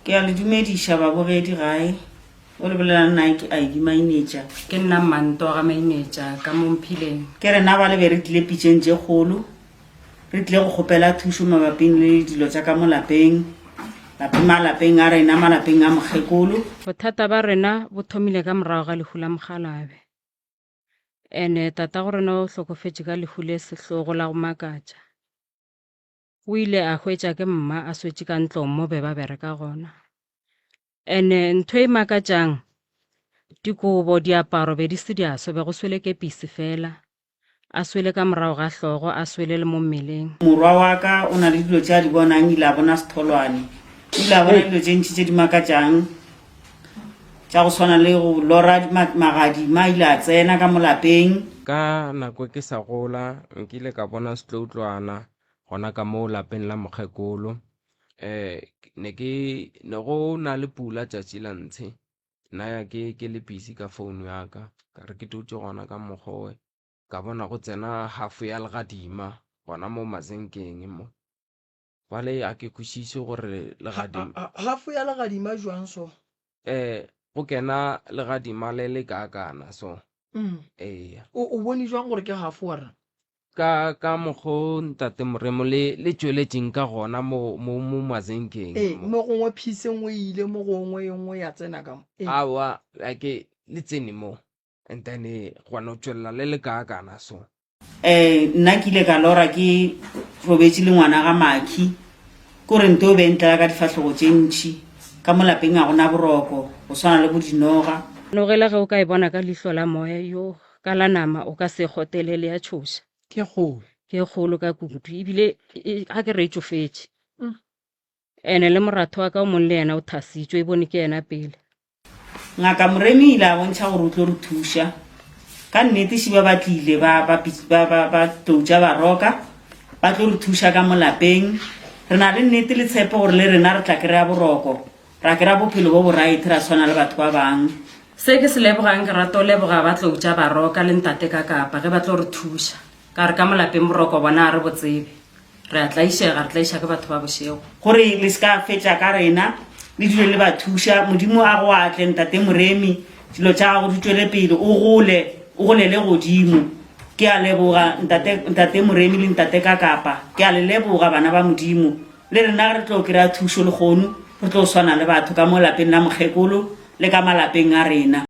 Ke a le dumediša babogedi gae. O le bolela nnae ke Ivy Mainetša. Ke nna Mmantoga Mainetša ka mo Mphileng. Ke rena ba le be re tlile pitšeng tše kgolo. Re tlile go kgopela thušo mabaping le dilo tša ka mo lapeng, lape malapeng a rena, malapeng a mokgekolo. Bothata ba rena bo thomile ka morago ga lehu la mokgalabe. Ene tatago rena o hlokofetše ka lehu le sehlogo la go makatša. O ile a hwetša ke mma a swetše ka ntlong mo be ba bereka gona. Ene ntho e makatšang, dikobo, diaparo be di se di aso, be go swele kepisi fela, a swele ka morago ga hlogo, a swele le mo mmeleng. Morwa wa ka o na le dilo tše a di bonang, ile a bona setholwane. O ile a bona dilo tše ntši tše di makatšang, tša go swana le go lora magadima, ile a tsena ka mo lapeng. Ka nako ke sa gola, nkile ka bona setloutlwana. gona ka mo lapeng la mokgekolo. Ne ke, ne go na le pula tšatši la ntshe, nna ke, ke le busy ka phone ya ka, ka re ke dutše gona ka mokgo we, ka bona go tsena half ya legadima gona mo mazinkeng mo. Bjale a ke kwešiše gore legadima. Half ya legadima bjang so? Eh, go kena legadima le le kaakana so. Mm. Eya. O, o bone jwang gore ke gafo wa rena? Ka, ka mokgo ntate Moremo le, le tšweletšeng ka gona mo, mo, mo mazenkeng. Ee, mo. mo gongwe phisi e nngwe e ile mo gongwe e nngwe ya tsena ka mo. Ee. Aowa, a ke le tsene mo. and then eh, go no tswelela le le kaakana so eh nna ke ile ka lora ke robetse le ngwana ga makhi kore nto o bentlela ka difahlogo tše ntšhi ka mo lapeng a gona boroko go swana le bo dinoga nogela ge o ka e bona ka lihlo la moya yo ka la nama o ka se kgotele le ya tšhoša ke golo ke kgolo ka kudu ebile e- a ke re e tšofetše Ene le moratho wa ka o mong le yena o thasitšwe, e bone ke yena pele. Ngaka Moremi o ile a bontšha gore o tlo re thuša. Ka nnete Šiba ba tlile ba, ba, ba, ba, ba tloutša baroka, ba tlo re thuša ka mo lapeng. Re na le nnete le tshepo gore le rena re tla kry-a boroko, ra kry-a bophelo bo boraete, ra tshwana le batho ba bangwe. Se ke se lebogang, ke rata go leboga ba tloutša baroka le Ntate ka Kapa ge ba tlo re thuša, ka gore ka mo lapeng boroko bona ga re bo tsebe. Re a tlaišega, re tlaiša ke batho ba bošego. Gore le se ka fetša ka rena, le dule le ba thuša. Modimo a go atle, Ntate Moremi. Dilo tša gago di tšwele pele, o gole, o golele godimo. Ke a leboga, Ntate, Ntate Moremi le Ntate Kakapa. Ke a le leboga, bana ba Modimo. Le rena re tlo kry-a thušo lekgono, re tlo swana le batho ka mo lapeng la mokgekolo le ka malapeng a rena.